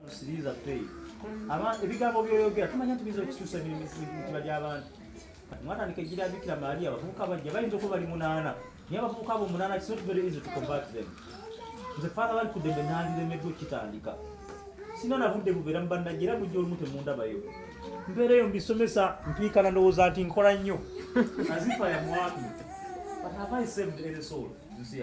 Kusiriza fei. Aba ebigambo byoyogera tumanya nti bizo kisusa bino mitiba gy'abantu. Mwana nikejira bikira Maria abavubuka bajja bayinza okuba bali munaana. Naye abavubuka abo munaana it's not very easy to combat them. Nze father bali kudembe nandiremeddwa okitandika. Sina na budde bubeera mu bannajja era mujja olumu temundabayo. Mbeera eyo mbisomesa mpiikana ndowooza nti nkola nnyo. As if I am working. But have I saved any soul? You see,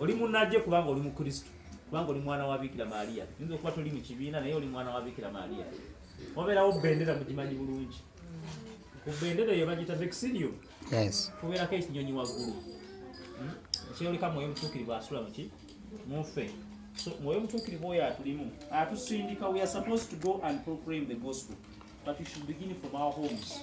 oli munajje kubanga oli mukristo kubanga oli mwana wa bikira maria yinza okuba toli mu kibiina naye oli mwana wa bikira maria wabeerawo bendera mugimanyi bulungi ku bendera eyo bagita vexilio kubeerako ekinyonyi waggulu hmm? ekyeyoleka mwoyo mutuukirivu asula muki munfe so mwoyo mutuukirivu oyo atulimu atusindika we are supposed to go and proclaim the gospel but we should begin from our homes